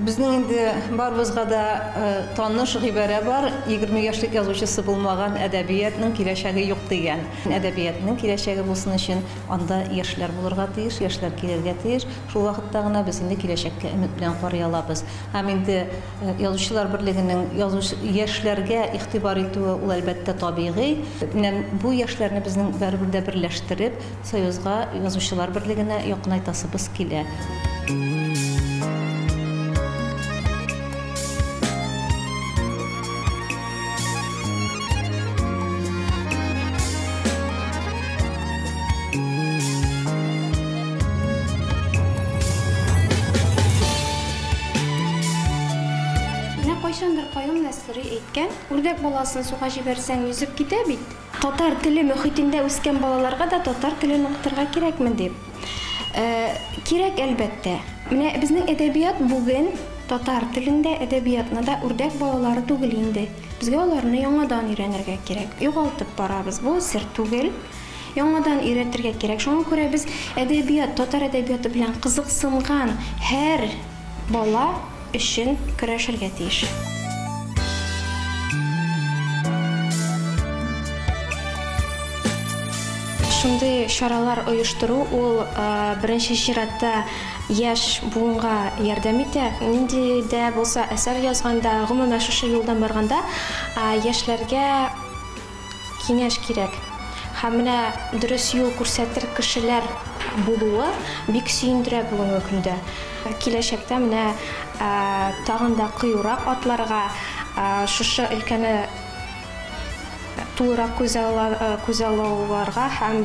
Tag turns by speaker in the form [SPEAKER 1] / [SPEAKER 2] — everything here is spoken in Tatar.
[SPEAKER 1] Безнең инде барыбызга да таныш гыйбарә бар, егерме яшьлек язучысы булмаган әдәбиятның киләчәге юк дигән. Әдәбиятның киләчәге булсын өчен анда яшьләр булырга тиеш, яшьләр килергә тиеш. Шул вакытта гына без инде киләчәккә өмет белән карый алабыз. Һәм инде Язучылар берлегенең язучы, яшьләргә игътибар итүе ул, әлбәттә, табигый. Менә бу яшьләрне безнең барыбер дә берләштереп, Союзга, Язучылар берлегенә якынайтасыбыз килә. Менә кайчандыр Каюм Нәсыйри әйткән, Үрдәк баласын суга җибәрсәң, йөзеп китә бит. Татар теле мөхитендә үскән балаларга да татар телен укытырга кирәкме дип. Кирәк, әлбәттә. Менә безнең әдәбият бүген татар телен дә, әдәбиятны да үрдәк балалары түгел инде. Безгә аларны яңадан өйрәнергә кирәк. Югалтып барабыз, бу сер түгел. Яңадан өйрәтергә кирәк. Шуңа күрә без әдәбият, татар әдәбияты белән кызыксынган һәр Бала өчен көрәшергә тиеш. Шундый чаралар оештыру ул, беренче чиратта, яшь буынга ярдәм итә. Нинди дә булса әсәр язганда, гомумән, шушы юлдан барганда, яшьләргә. Киңәш кирәк. Һәм менә дөрес юл күрсәтер кешеләр булуы бик сөендерә бүгенге көндә. Киләчәктә менә тагын да кыюрак атларга, шушы өлкәне тулырак күзаллауларга һәм.